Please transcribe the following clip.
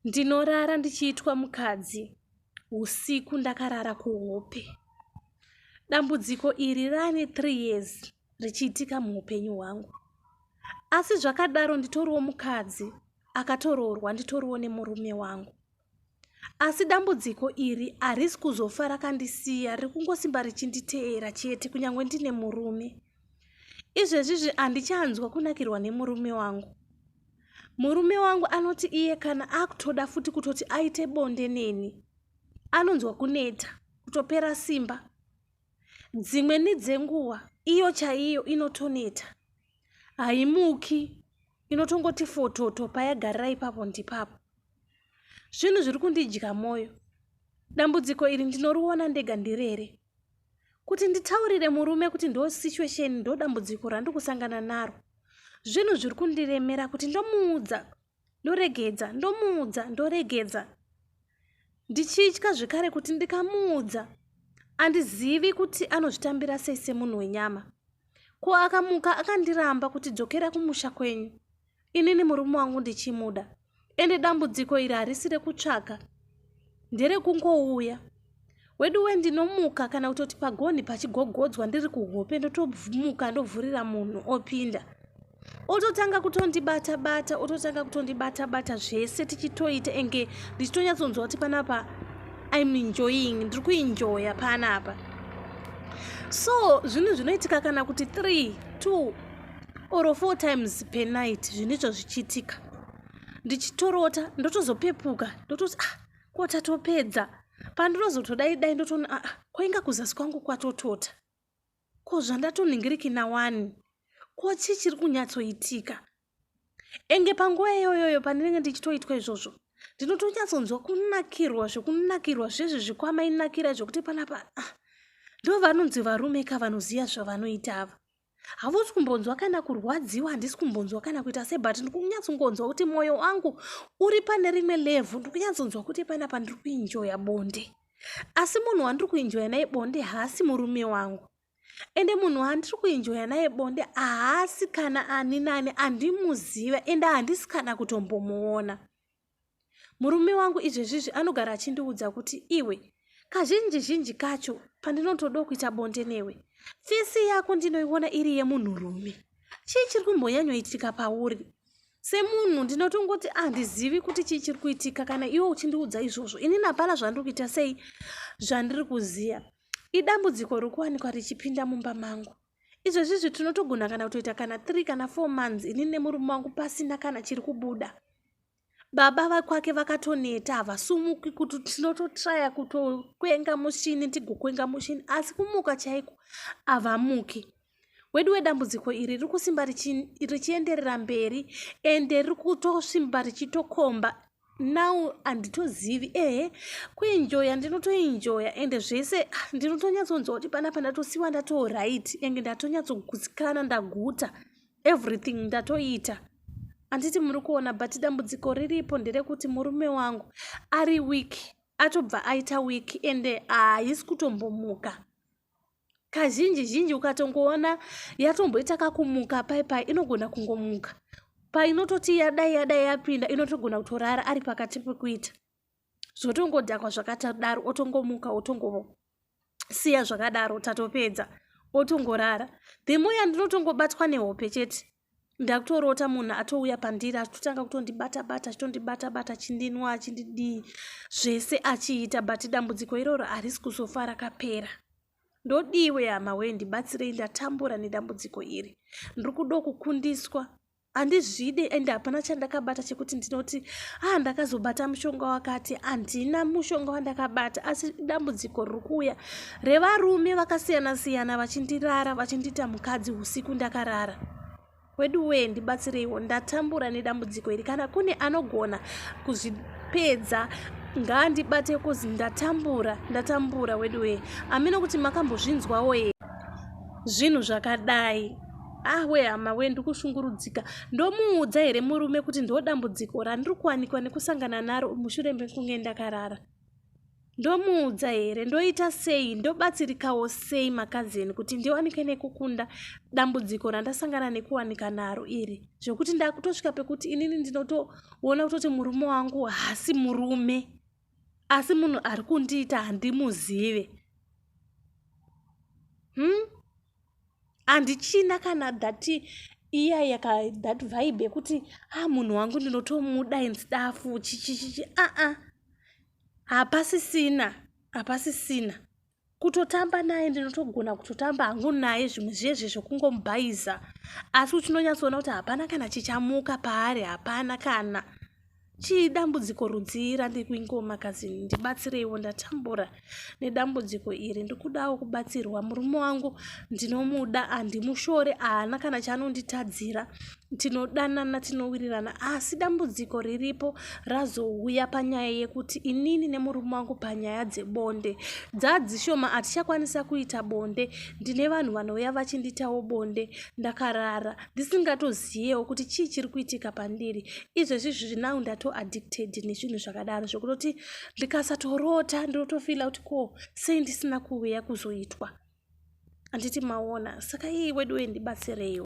ndinorara ndichiitwa mukadzi usiku ndakarara kuhope dambudziko iri rane three years richiitika muupenyu hwangu asi zvakadaro nditoriwo mukadzi akatoroorwa nditoriwo nemurume wangu asi dambudziko iri harisi kuzofa rakandisiya riri kungosimba richinditeera chete kunyange ndine murume izvezvizvi handichanzwa kunakirwa nemurume wangu murume wangu anoti iye kana akutoda futi kutoti aite bonde neni anonzwa kuneta kutopera simba dzimwe nedzenguva iyo chaiyo inotoneta haimuki inotongoti fototo payagarira ipapo ndipapo zvinhu zviri kundidya mwoyo dambudziko iri ndinoriona ndega ndiri here kuti nditaurire murume kuti ndo situation ndo dambudziko randikusangana naro zvinhu zviri kundiremera kuti ndomuudza ndoregedza ndomuudza ndoregedza ndichitya zvekare kuti ndikamuudza andizivi kuti anozvitambira sei semunhu wenyama ko akamuka akandiramba kuti dzokera kumusha kwenyu inini murume wangu ndichimuda ende dambudziko iri harisi rekutsvaga nderekungouya wedu we ndinomuka kana kutoti pagonhi pachigogodzwa ndiri kuhope ndotomuka ndovhurira munhu opinda ototanga kutondibata bata ototanga kutondibata bata zvese tichitoita enge ndichitonyatsonzwa kuti panapa im enjoying ndiri kuenjoya panapa so zvinhu zvinoitika kana kuti 3 2 or four times per night zvinoitwa zvichiitika ndichitorota ndotozopepuka ndototi ah ko tatopedza pandinozotodai dai ndotoona aa ah, kwainga kuzasi kwangu kwatotota ko zvandatonhingiriki nawani ko chii chiri kunyatsoitika enge panguva iyoyoyo pandinenge ndichitoitwa izvozvo ndinotonyatsonzwa kunakirwa zvekunakirwa zvezvi zvikwamainakira zvekuti panapa ah, ndovanonzi varume ka vanoziva zvavanoita ava hausi kumbonzwa kana kurwadziwa handisi kumbonzwa kana kuita se but ndiri kunyatsongonzwa kuti mwoyo wangu uri pane rimwe levhu ndiri kunyatsonzwa kuti pana pandiri kuinjoya bonde asi munhu wandiri kuinjoya naye bonde haasi murume wangu ende munhu wandiri kuinjoya naye bonde haasi kana ani nani andimuziva ende handisi kana kutombomuona Murume wangu izvezvizvi anogara achindiudza kuti iwe kazhinji zhinji kacho pandinotodawo kuita bonde newe fesi yako ndinoiona iri yemunhurume chii chiri kumbonyanyoitika pauri semunhu ndinotongoti handizivi ah, kuti chii chiri kuitika kana iwe uchindiudza izvozvo ini napana zvandiri kuita sei zvandiri kuziva idambudziko rokuwanikwa richipinda mumba mangu izvezvizvi tinotogona kana kutoita kana three kana four months ini nemurume wangu pasina kana chiri kubuda baba vakwake vakatoneta havasumuki kuti tinototraya kutokwenga mushini tigokwenga mushini asi kumuka chaiko havamuki wedu wedambudziko iri riri kusimba richienderera mberi ende riri kutosimba richitokomba now handitozivi ehe kuenjoya ndinotoenjoya ende zvese ah, ndinotonyatsonzwa kuti panapa ndatosiwa ndatooright enge ndatonyatsogusikana ndaguta everything ndatoita handiti muri kuona but dambudziko riripo nderekuti murume wangu ari week atobva aita week ende haisi ah, kutombomuka kazhinji zhinji ukatongoona yatomboita kakumuka pai pai inogona kungomuka painototi yadai yadai yapinda inotogona kutorara ari pakati pekuita zvotongodhakwa zvakatadaro otongomuka otongosiya zvakadaro tatopedza otongorara the more yandinotongobatwa nehope chete ndakutorota munhu atouya pandiri achitotanga kutondibata bata achitondibata bata achindinwa achindidii zvese achiita but dambudziko iroro harisi kuzofa rakapera ndodiwe hama wee ndibatsirei ndatambura nedambudziko iri ndiri kudo kukundiswa handizvide and hapana chandakabata chekuti ndinoti ah ndakazobata mushonga wakati handina mushonga wandakabata asi dambudziko riri kuuya revarume vakasiyana siyana vachindirara vachindiita mukadzi usiku ndakarara wedu wee ndibatsireiwo ndatambura nedambudziko iri kana kune anogona kuzvipedza ngaandibate kuzi ndatambura ndatambura wedu wee amino kuti makambozvinzwawo here zvinhu zvakadai ah we hama we ndikushungurudzika ndomuudza here murume kuti ndodambudziko randiri kuwanikwa nekusangana naro mushure mekunge ndakarara ndomuudza here ndoita sei ndobatsirikawo sei makazeni kuti ndiwanike nekukunda dambudziko randasangana nekuwanika naro iri zvekuti ndakutosvika pekuti inini ndinotoona kutoti murume wangu hasi murume asi munhu ari kundiita handimuzive hmm? handichina kana that iya yaka that vibe yekuti ah munhu wangu ndinotomuda and stuff chichichichi aa ah, ah. hapasisina hapasisina kutotamba naye ndinotogona kutotamba hangu naye zvimwe zvezve zvekungomubhaiza asi uchinonyatsoona kuti hapana kana chichamuka paari hapana kana Chii dambudziko rudzii randiri kuingoma kazini ndibatsireiwo ndatambura nedambudziko iri ndikudawo kubatsirwa murume wangu ndinomuda handimushore haana kana chaanonditadzira tinodanana tinowirirana asi dambudziko riripo razouya panyaya yekuti inini nemurume wangu panyaya dzebonde dzadzishoma hatichakwanisa kuita bonde ndine vanhu vanouya vachinditawo bonde ndakarara ndisingatoziyewo kuti chii chiri kuitika pandiri izvezvi zviri now ndatoaddicted nezvinhu zvakadaro zvekutoti ndikasatorota ndinotofila kuti ko sei ndisina kuuya kuzoitwa handiti maona saka ii weduwe ndibatsireiwo